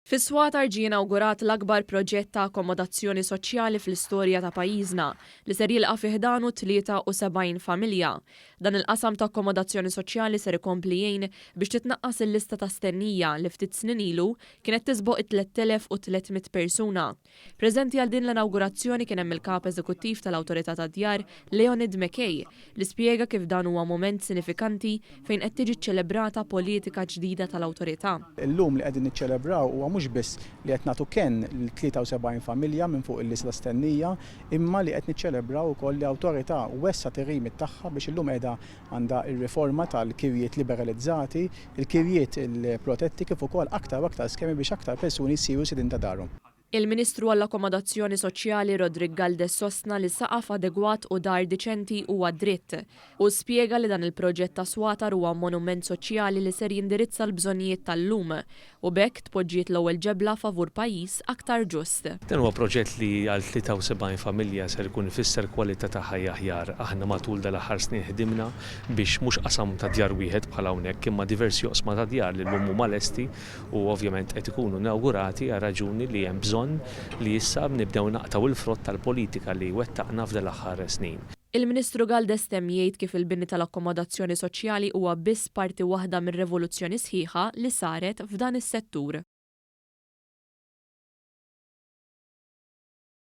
Fis-Swatar ġie inawgurat l-akbar proġett ta' akkomodazzjoni soċjali fl-istorja ta' pajjiżna, li ser jilqa' fi ħdanu 73 familja. Dan il-qasam ta' akkomodazzjoni soċjali ser ikompli jgħin biex titnaqqas il-lista ta' stennija li ftit snin ilu kienet tisboq it-3,300 persuna. Preżenti għal din l-inawgurazzjoni kien hemm il-Kap Eżekuttiv tal-Awtorità tad-Djar, Leonid McKay, li spjega kif dan huwa mument sinifikanti fejn qed tiġi ċċelebrata politika ġdida tal-Awtorità. Illum li qegħdin niċċelebraw huwa mhux biss li qed nagħtu kenn lil 73 familja minn fuq il-Isla Stennija, imma li qed niċċelebraw ukoll li Awtorità wessgħet ir-remit tagħha biex illum qiegħda għandha r-riforma tal-kirjiet liberalizzati, il-kirjiet il-protetti kif ukoll aktar u aktar skemi biex aktar persuni jsiru sidien ta' darhom. Il-Ministru għall-Akkomodazzjoni Soċjali Roderick Galdes sostna li saqaf adegwat u dar diċenti huwa dritt. Hu spjega li dan il-proġett ta' Swatar huwa monument soċjali li ser jindirizza l-bżonnijiet tal-lum u b'hekk tpoġġiet l-ewwel ġebla favur pajjiż aktar ġust. Dan huwa proġett li għal 73 familja ser ikun ifisser kwalità ta' ħajja aħjar. Aħna matul dal-aħħar snin ħdimna biex mhux qasam ta' djar wieħed bħal hawnhekk imma diversi oqsma ta' djar li llum huma lesti u ovvjament qed ikunu inawgurati għar-raġuni li hemm bżonn li issa nibdew naqtgħu l-frott tal-politika li wettaqna f'dal-aħħar snin. Il-Ministru Galdes temm jgħid kif il-bini tal-akkomodazzjoni soċjali huwa biss parti waħda mir-revoluzzjoni sħiħa li saret f'dan is-settur.